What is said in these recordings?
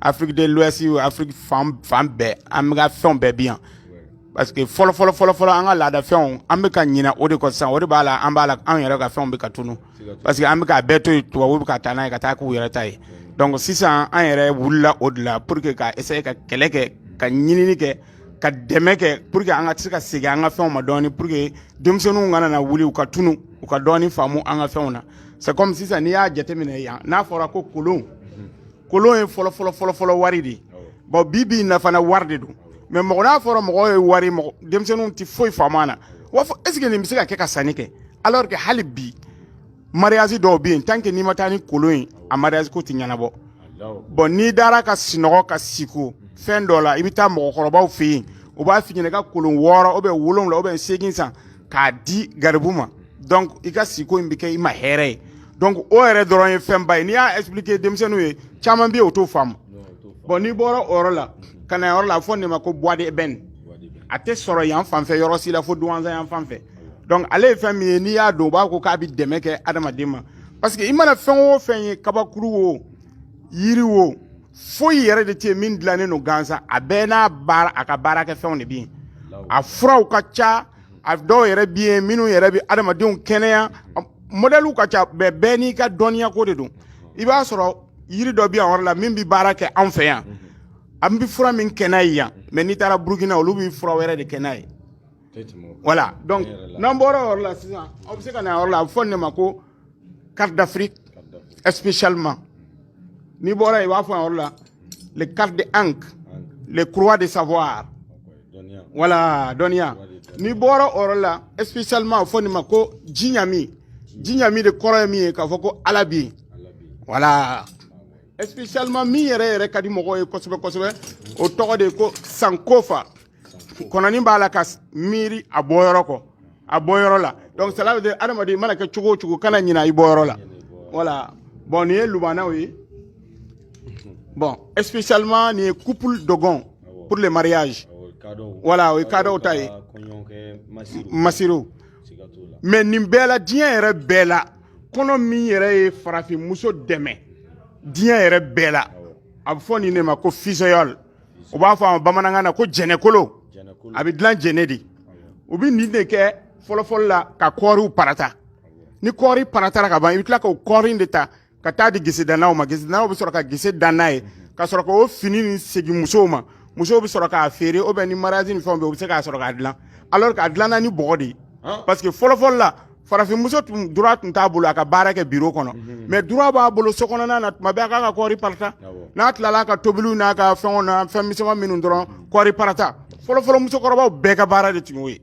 Afrique de l'Ouest ou Afrique fan fan bɛɛ an bɛ ka fɛnw bɛɛ bi yan parce que fɔlɔ fɔlɔ fɔlɔ fɔlɔ an ka laadafɛnw an bɛ ka ɲinɛ o de kɔ sisan o de b'a la an b'a la anw yɛrɛ ka fɛnw bɛ ka tunu parce que an bɛ k'a bɛɛ to yen tubabuw bɛ ka taa n'a ye ka taa k'u yɛrɛ ta ye donc sisan an yɛrɛ wulila o de la pour que ka essayer ka kɛlɛ kɛ ka ɲinini kɛ ka dɛmɛ kɛ pour que an ka se ka segin an ka fɛnw ma dɔɔni pour que denmisɛnninw kana na wuli u ka tunu u ka dɔɔni faamu an ka fɛnw na c'est comme sisan n'i y'a jateminɛ yan n'a fɔra ko kolon kolon ye fɔlɔ fɔlɔ fɔlɔ fɔlɔ wari de ye bon bi bi in na fana wari de don mais mɔgɔ n'a fɔra mɔgɔ ye wari mɔgɔ denmisɛnninw tɛ foyi faamu a la wa fɔ est ce que nin bɛ se ka kɛ ka sanni kɛ alors que hali bi mariage dɔw bɛ yen tant que n'i ma taa ni kolon ye a mariage ko tɛ ɲɛnabɔ bon n'i dara ka sinɔgɔ ka siko fɛn dɔ la i bɛ taa mɔgɔkɔrɔbaw fɛ yen u b'a f'i ɲɛna i ka kolon wɔɔrɔ ou bien wolonwula ou bien seegin san k'a di garibu ma donc i ka siko in bɛ kɛ i ma hɛrɛ ye donc o yɛrɛ dɔrɔn ye fɛnba ye n'i y'a expliquer denmisɛnninw ye caman bɛ yen o t'o faamu bon n'i bɔra o yɔrɔ la ka na yɔrɔ la a fɔ nin ma ko bois d'ébène a tɛ sɔrɔ yan fan fɛ yɔrɔ si la fo Douentza yan fan fɛ donc ale ye fɛn min ye n'i y'a don u b'a ko k'a bɛ dɛmɛ kɛ adamaden ma parce que i mana fɛn o fɛn ye kabakuru o yiri o foyi yɛrɛ de tɛ yen min dilannen don gansan a bɛɛ n'a baara a ka baarakɛfɛnw de bɛ yen a furaw ka ca a dɔw yɛrɛ bi yen minnu yɛrɛ bɛ adamadenw kɛnɛya modɛliw ka ca bɛɛ bɛɛ n'i ka dɔnniya ko de don i b'a sɔrɔ yiri dɔ bɛ yan yɔrɔ la min bɛ baara kɛ an fɛ yan an bɛ fura min kɛ n'a ye yan mais n'i taara burukina olu bɛ fura wɛrɛ de kɛ n'a ye voilà donc n'an bɔra o yɔrɔ la sisan aw bɛ se ka na yɔrɔ la a bɛ fɔ nin ma ko carte d'Afrique spécialement n'i bɔra yen i b'a fɔ yɔrɔ la les cartes de Ankh les croix de savoir voilà dɔnniya n'i bɔra o yɔrɔ la spécialement a bɛ fɔ nin ma ko jiɲami jiɲami de kɔrɔ ye min ye k'a fɔ ko ala bɛ yen voilà spécialement min yɛrɛ yɛrɛ ka di mɔgɔw ye kosɛbɛ kosɛbɛ o tɔgɔ de ko sankofa kɔnɔni b'a la ka miiri a bɔyɔrɔ kɔ a bɔyɔrɔ la donc cela veut dire adamaden mana kɛ cogo o cogo kana ɲina i bɔyɔrɔ la voilà bon nin ye lubanaw ye bon spécialement nin ye couple dogon pour le mariage voilà o ye kadɔw ta ye masiriw mais nin bɛɛ la diɲɛ yɛrɛ bɛɛ la kɔnɔ min yɛrɛ ye farafinmuso dɛmɛ diɲɛ yɛrɛ bɛɛ la a bɛ fɔ nin de ma ko fusaïole u b'a fɔ a ma bamanankan na ko jɛnɛkolo a bɛ dilan jɛnɛ de u bɛ nin de kɛ fɔlɔfɔlɔ la ka kɔɔriw parata ni kɔɔri paratara ka ban i bɛ tila k'o kɔɔri in de ta ka taa di gesedannaw ma gesedannaw bɛ sɔrɔ ka gese dan n'a ye ka sɔrɔ k'o fini nin segin musow ma musow bɛ sɔrɔ k'a feere ou bien ni mariage ni fɛnw bɛ u bɛ se k'a sɔrɔ k'a dilan alors k'a dilanna ni bɔgɔ de ye parce que fɔlɔfɔlɔ la farafinmuso tun droit tun t'a bolo a ka baara kɛ biro kɔnɔ mhm. mais droit b'a bolo so kɔnɔna na tuma bɛɛ a k'a ka kɔɔri parata n'a tilala a ka tobiliw n'a ka fɛnw na fɛn misɛnman minnu dɔrɔn mhm. kɔɔri parata fɔlɔfɔlɔ musokɔrɔbaw bɛɛ ka baara de tun y'o ye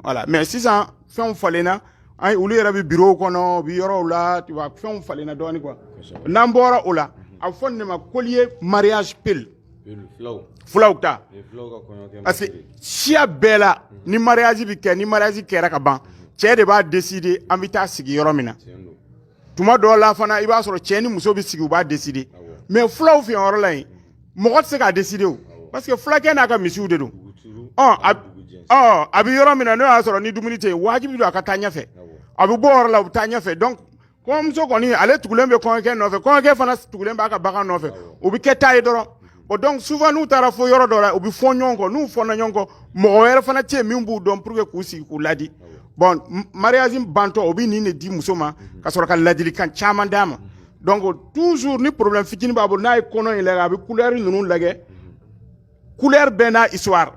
voilà mais sisan fɛnw falenna an olu yɛrɛ bɛ birow kɔnɔ u bɛ yɔrɔw la fɛnw falenna dɔɔnin quoi n'an bɔra o la mhm. a bɛ fɔ nin de ma collier mariage peul fulaw ta parce que siya bɛɛ la ni mariage bɛ kɛ ni mariage kɛra ka ban cɛ de b'a décider an bɛ taa sigi yɔrɔ min na tuma dɔw la fana i b'a sɔrɔ cɛ ni muso bɛ sigi u b'a décider mais fulaw fɛ yɔrɔ la yen mɔgɔ tɛ se k'a décider o parce que fulakɛ n'a ka misiw de don ɔ a bɛ yɔrɔ min na n'o y'a sɔrɔ ni dumuni tɛ yen wajibi don a ka taa ɲɛfɛ a bɛ bɔ o yɔrɔ la u bɛ taa ɲɛfɛ donc kɔɲɔmuso kɔni ale tugulen bɛ kɔɲɔkɛ nɔfɛ kɔɲɔkɛ fana tugulen b'a ka bagan nɔfɛ o bɛ kɛ taa ye dɔrɔn bon donc souvent n'u taara fo yɔrɔ dɔ la u bɛ fɔ ɲɔgɔn kɔ n'u fɔna ɲɔgɔn kɔ mɔgɔ wɛrɛ fana tɛ yen min b'u dɔn pour que k'u sigi k'u ladi bon mariage bantɔ o bɛ nin de di muso ma ka sɔrɔ ka ladilikan caman d'a ma donc toujours ni problème fitinin b'a bolo n'a ye kɔnɔ in lajɛ a bɛ couleur ninnu lajɛ couleur bɛɛ n'a histoire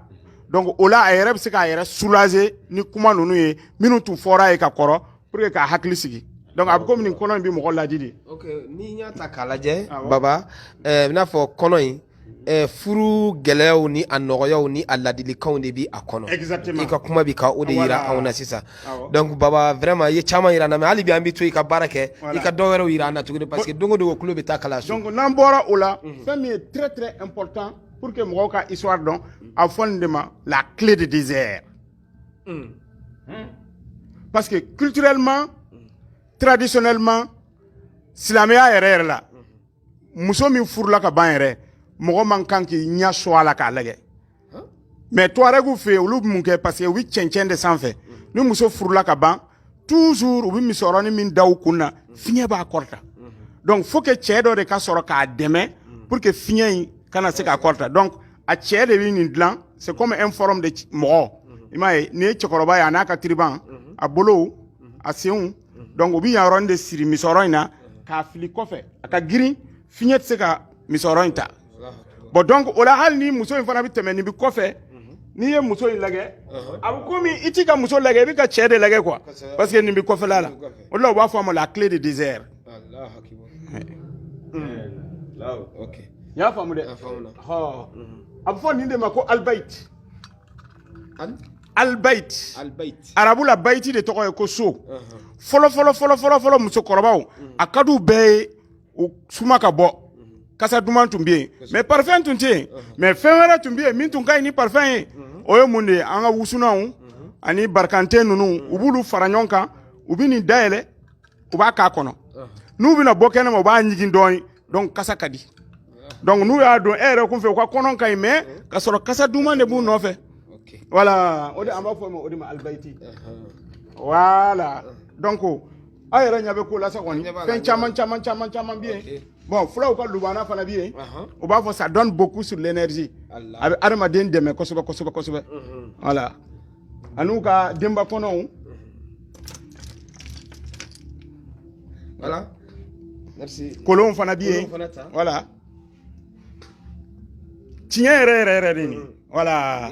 donc o la a yɛrɛ bɛ se k'a yɛrɛ soulager ni kuma ninnu ye minnu tun fɔra a ye ka kɔrɔ pour que k'a hakili sigi donc a bɛ komi nin kɔnɔ in bɛ mɔgɔ laadi de. ok n'i y'a ta k'a lajɛ. Ah, baba ɛɛ eh, i n'a fɔ kɔnɔ in. Eh, furu gɛlɛyaw ni a nɔgɔyaw ni a ladilikanw de bi a kɔnɔ i ka kuma bi ka o de yira anw na sisan donc baba vraiment i ye caman yira an na mais hali bi an bi to i ka baara kɛ i ka dɔ wɛrɛw yira an na tuguni parce que don o don o kulo bɛ taa kalanso donc n'an bɔra o la mhm. fɛn min ye très très important pour que mɔgɔw ka histoire dɔn a fɔ nin de ma la clé de désert Hmm. Hmm. Parce que culturellement, traditionnellement, silamɛya yɛrɛ yɛrɛ la muso min furula ka ban yɛrɛ mɔgɔ man kan k'i ɲɛ so a la k'a lajɛ mais tuarɛgw fɛ olu bɛ mun kɛ parce que u bɛ cɛncɛn de sanfɛ ni muso furula ka ban toujours u bɛ misɔrɔni min da u kun na fiɲɛ b'a kɔrɔta donc faut que cɛ dɔ de ka sɔrɔ k'a dɛmɛ pour que fiɲɛ in kana se k'a kɔrɔta donc a cɛ de bɛ nin dilan c'est comme un forme de mɔgɔ i m'a ye nin ye cɛkɔrɔba ye a n'a ka tiriban a bolow a senw donc u bɛ yan yɔrɔnin de siri misɔrɔ in na k'a fili kɔfɛ a ka girin fiɲɛ tɛ se ka misɔrɔ in ta bon donc o la hali ni muso in fana bɛ tɛmɛ nin bɛ kɔfɛ n'i ye muso in lajɛ a bɛ komi i tɛ ka muso lajɛ i bɛ ka cɛ de lajɛ quoi parce que nin bɛ kɔfɛla la o la u b'a fɔ a ma la clé de désert i y'a faamu dɛ a bɛ fɔ nin de ma ko alibayiti alibayiti arabu la bayiti de tɔgɔ ye ko so fɔlɔ fɔlɔ fɔlɔ fɔlɔ fɔlɔ musokɔrɔbaw a ka di u bɛɛ ye u suma ka bɔ kasa duman tun bɛ yen mais parfum tun tɛ yen mais fɛn wɛrɛ tun bɛ yen min tun ka ɲi ni parfum ye o ye mun de ye an ka wusunanw ani barikante ninnu u b'olu fara ɲɔgɔn kan u bɛ nin dayɛlɛ u b'a k'a kɔnɔ n'u bɛna bɔ kɛnɛma u b'a ɲigin dɔɔnin donc kasa ka di donc n'u y'a don e yɛrɛ kun fɛ u ka kɔnɔ ka ɲi mais ka sɔrɔ kasa duman de b'u nɔfɛ voilà o de an b'a fɔ o ma o de ma alibayiti voilà donc aw yɛrɛ ɲɛ bɛ ko la sa kɔni fɛn caman caman caman caman bɛ yen bon fulaw ka lubana fana bɛ yen u b'a fɔ ça donne beaucoup sur l'énergie a bɛ adamaden dɛmɛ kosɛbɛ kosɛbɛ kosɛbɛ voilà an'u ka denba kɔnɔw voilà kolonw fana bɛ yen voilà tiɲɛ yɛrɛ yɛrɛ yɛrɛ de nin voilà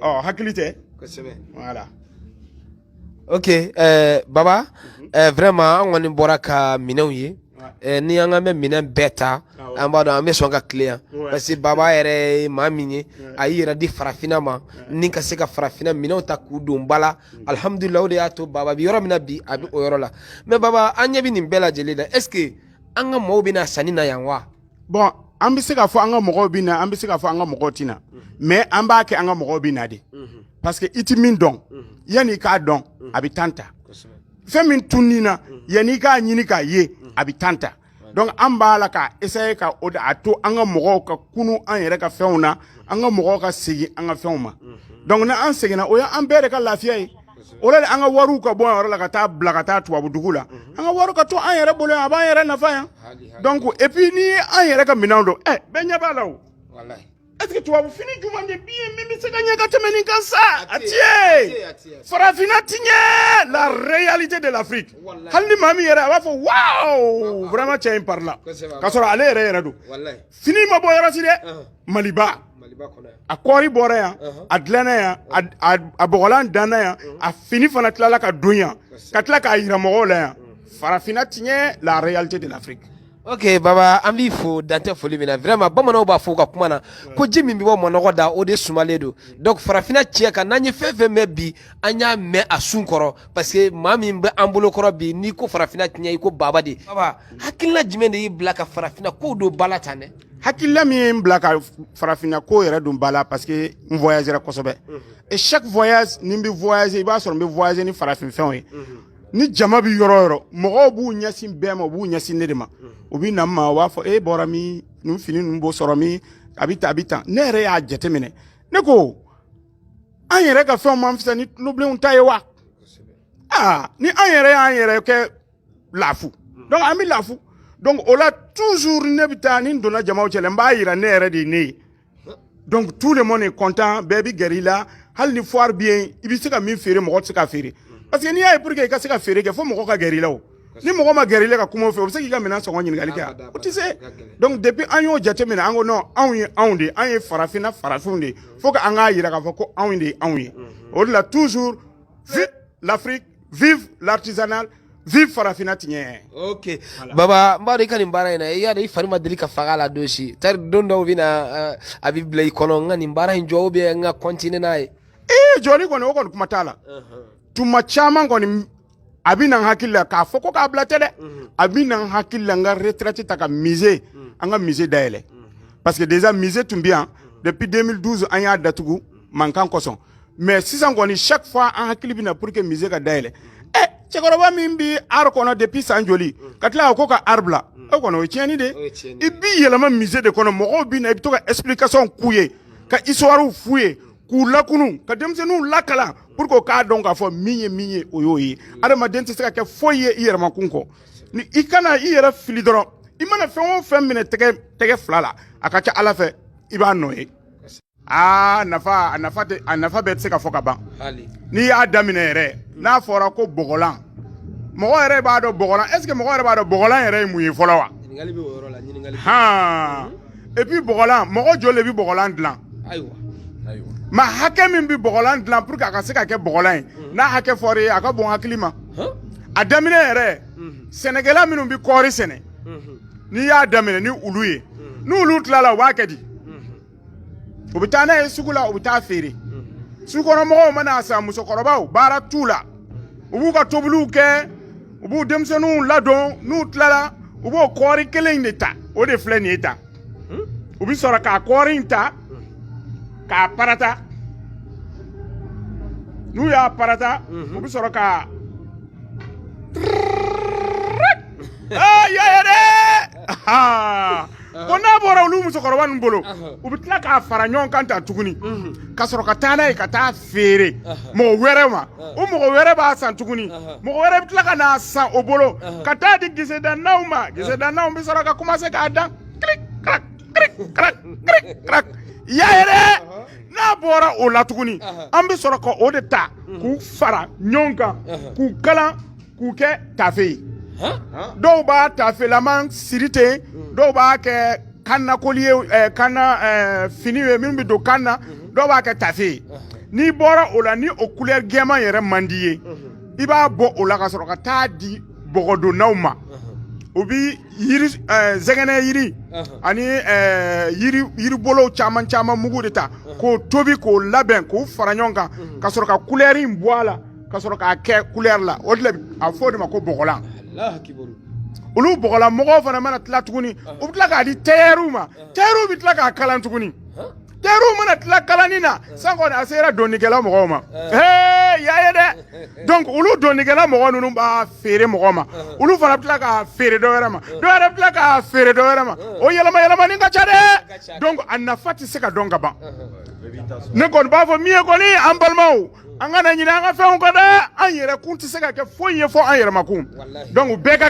ɔ hakili tɛ voilà ok eh, baba mhm. eh, vraiment an kɔni bɔra ka minɛnw ye eh, ni an k'an bɛ minɛn bɛɛ ta an b'a dɔn an bɛ sɔn ka tilen yan parce que baba yɛrɛ ye maa min ye a y'i yɛrɛ di farafinna ma ni ka se ka farafinna minɛnw ta k'u don ba la mm. alihamudulila o de y'a to baba bi yɔrɔ min na bi a bɛ o yɔrɔ la mais baba an ɲɛ bɛ nin bɛɛ lajɛlen na est ce que an ka mɔɔw bɛ na sanni na yan wa bon an bɛ se k'a fɔ an ka mɔgɔw bɛ na an bɛ se k'a fɔ an ka mɔgɔw tɛ na mais an b'a kɛ an ka mɔgɔw bɛ na de parce que i tɛ min dɔn yanni i k'a dɔn a bɛ temps ta fɛn min tununna yanni i k'a ɲini k'a ye a bɛ temps ta donc an b'a la k'a essayer ka o de y'a to an ka mɔgɔw ka kunun an yɛrɛ ka fɛnw na an ka mɔgɔw ka segin an ka fɛnw ma donc ni an seginna o ye an bɛɛ de ka lafiya ye o la an ka wariw ka bɔ an yɔrɔ la ka taa bila ka taa tubabu dugu la mhm. an ka wari ka to an yɛrɛ bolo yan a b'an yɛrɛ nafa yan donc et puis ni an yɛrɛ ka minɛnw don ɛ eh, bɛɛ ɲɛ b'a la o est ce que tubabu fini jumɛn de bi yen min bɛ se ka ɲɛ ka tɛmɛ nin kan sa a ti yen farafinna tiɲɛ la réalité de l'Afrique hali ni maa min yɛrɛ a b'a fɔ waaw vraiment cɛ in parila ka sɔrɔ ale yɛrɛ yɛrɛ don fini ma bɔ yɔrɔ si dɛ maliba a kɔɔri bɔra yan a dilanna yan a bɔgɔlan danna yan a fini fana tilala ka don yan ka tila k'a yira mɔgɔw la yan farafinna tiɲɛ la réalité de l'Afrique ok baba an b'i fo dan tɛ foli min na vraiment bamananw b'a fɔ u ka kuma na ko ji min bɛ bɔ manɔgɔ da o de sumalen don donc farafinna tiɲɛ kan n'an ye fɛn fɛn mɛn bi an y'a mɛn a sun kɔrɔ parce que maa min bɛ an bolo kɔrɔ bi n'i ko farafinna tiɲɛ i ko baba de baba hakilina jumɛn de y'i bila ka farafinna kow don ba la tan dɛ hakilila min ye n bila ka farafinna ko yɛrɛ don ba la parce que n voyagera kosɛbɛ et chaque voyage ni n bɛ voyager i b'a sɔrɔ n bɛ voyager ni farafin fɛnw ye ni jama bɛ yɔrɔ yɔrɔ mɔgɔw b'u ɲɛsin bɛɛ ma u b'u ɲɛsin ne de ma u bɛ na n ma u b'a fɔ e bɔra min nin fini ninnu bɛ sɔrɔ min a bɛ tan a bɛ tan ne yɛrɛ y'a jateminɛ ne ko an yɛrɛ ka fɛnw man fisa ni tulobilenw ta ye wa aa ni an yɛrɛ y'an yɛrɛ kɛ lafu donc an bɛ lafu donc o la toujours ne bɛ taa ni n donna jamaw cɛ la n b'a yira ne yɛrɛ de ye ne ye donc tout le monde est content bɛɛ bɛ gɛrɛ i la hali ni foire bɛ yen i bɛ se ka min feere mɔgɔ tɛ se ka feere parce que n'i y'a ye pour que i ka se ka feere kɛ fo mɔgɔ ka gɛrɛ i la o ni mɔgɔ ma gɛrɛ i la ka kuma o fɛ o bɛ se k'i ka minɛn sɔngɔ ɲininkali kɛ a o tɛ se donc depuis an y'o jateminɛ an ko non anw ye anw de ye an ye farafinna farafinw de ye fo ka an k'a yira k'a fɔ ko anw de ye anw ye o de la toujours vive l'Afrique vive l'artisanal vive farafinna tiɲɛ ok voilà. baba n b'a dɔn i ka nin baara in na i y'a dɔn i fari ma deli ka faga la don si tari don dɔw bɛ na uh, a bɛ bila i kɔnɔ n ka nin baara in jɔ ou bien n ka continuer n'a ye ee jɔli kɔni o kɔni kuma t'a la uh -huh. tuma caman kɔni a bɛ na n hakili la k'a fɔ ko k'a bila tɛ dɛ uh -huh. a bɛ na n hakili la n ka retraite ta ka musée uh -huh. an ka musée dayɛlɛ uh -huh. parce que déjà musée tun bɛ yan depuis 2012 an y'a datugu mankan kosɔn mais sisan kɔni chaque fois an hakili bɛ na pour que musée ka dayɛlɛ ɛ cɛkɔrɔba min bɛ art kɔnɔ depuis san joli ka tila ko ka art bila o kɔni o ye tiɲɛni de i b'i yɛlɛma musée de kɔnɔ mɔgɔw bɛ na i bɛ to ka explication k'u ye ka histoire f'u ye k'u lakunu ka denmisɛnninw lakalan pour que o k'a dɔn k'a fɔ min ye min ye o y'o ye adamaden tɛ se ka kɛ foyi ye i yɛrɛmakun kɔ ni i kana i yɛrɛ fili dɔrɔn i mana fɛn o fɛn minɛ tɛgɛ tɛgɛ fila la a ka ca ala fɛ i b'a nɔ ye aa nafa a nafa tɛ a nafa bɛɛ tɛ se ka fɔ ka ban hali n'i y'a daminɛ yɛrɛ n'a fɔra ko bɔgɔlan mɔgɔ yɛrɛ b'a dɔn bɔgɔlan est ce que mɔgɔ yɛrɛ b'a dɔn bɔgɔlan yɛrɛ ye mun ye fɔlɔ wa ɲininkali bɛ o yɔrɔ la ɲininkali han et puis bɔgɔlan mɔgɔ joli de bɛ bɔgɔlan dilan ayiwa ayiwa maa hakɛ min bɛ bɔgɔlan dilan pour que a ka se ka kɛ bɔgɔlan ye n'a hakɛ fɔra i ye a ka bon hakili ma hɔn a daminɛ yɛrɛ Mhm. sɛnɛkɛla minnu bɛ kɔɔri sɛnɛ Mhm. n'i y'a daminɛ ni olu ye n'olu tilala u b'a kɛ di u bɛ taa n'a ye sugu la u bɛ taa feere sugukɔnɔmɔgɔw mana a san musokɔrɔbaw baara t'u la u b'u ka tobiliw kɛ u b'u denmisɛnninw ladon n'u tilala u b'o kɔɔri kelen in de ta o de filɛ nin ye tan u bɛ sɔrɔ ka kɔɔri in ta k'a parata n'u y'a parata u bɛ sɔrɔ ka i y'a ye dɛ ko n'a bɔra olu musokɔrɔba ninnu bolo u bɛ tila k'a fara ɲɔgɔn kan ta tuguni ka sɔrɔ ka taa n'a ye ka taa feere mɔgɔ wɛrɛ ma o mɔgɔ wɛrɛ b'a san tuguni mɔgɔ wɛrɛ bɛ tila ka n'a san o bolo ka taa di gesedannaw ma gesedannaw bɛ sɔrɔ ka commencer k'a dan kiri kiri kiri kiri kiri i y'a ye dɛ n'a bɔra o la tuguni an bɛ sɔrɔ ka o de ta k'u fara ɲɔgɔn kan k'u kalan k'u kɛ tafe ye dɔw b'a tafelama siri ten mm. dɔw b'a kɛ kannakoli ye eh, kanna eh, fini ye min bɛ don kan na mm-hmm. dɔw b'a kɛ tafe ye n'i bɔra o la ni o couleur gɛman yɛrɛ man di ye mm-hmm. i b'a bɔ o la ka sɔrɔ ka taa di bɔgɔdonnaw ma mm-hmm. o bi yiri eh, zɛgɛnɛ yiri ani yiri yiribolow caman caman mugu de ta k'o tobi k'o labɛn k'o fara ɲɔgɔn kan ka sɔrɔ ka couleur in bɔ a la ka sɔrɔ k'a kɛ kulɛri la o de a fɔ o de ma ko bɔgɔlan olu bɔgɔlan mɔgɔw fana mana tila tuguni u bɛ tila k'a di tayɛriw ma tayɛriw bɛ tila k'a kalan tuguni tayɛriw mana tila kalanni na san kɔni a sera donnikɛla mɔgɔw ma ee y'a ye dɛ donc olu donnikɛla mɔgɔ ninnu b'a feere mɔgɔ ma olu fana bɛ tila k'a feere dɔ wɛrɛ ma dɔ wɛrɛ bɛ tila k'a feere dɔ wɛrɛ ma o yɛlɛma yɛlɛmani ka ca dɛ donc a nafa tɛ se ka dɔn ka ban ne kɔni b'a fɔ min ye kɔni an balimaw an kana ɲinɛ an ka fɛnw kɔ dɛ an yɛrɛ kun tɛ se ka kɛ foyi ye fɔ an yɛrɛmakun donc bɛɛ ka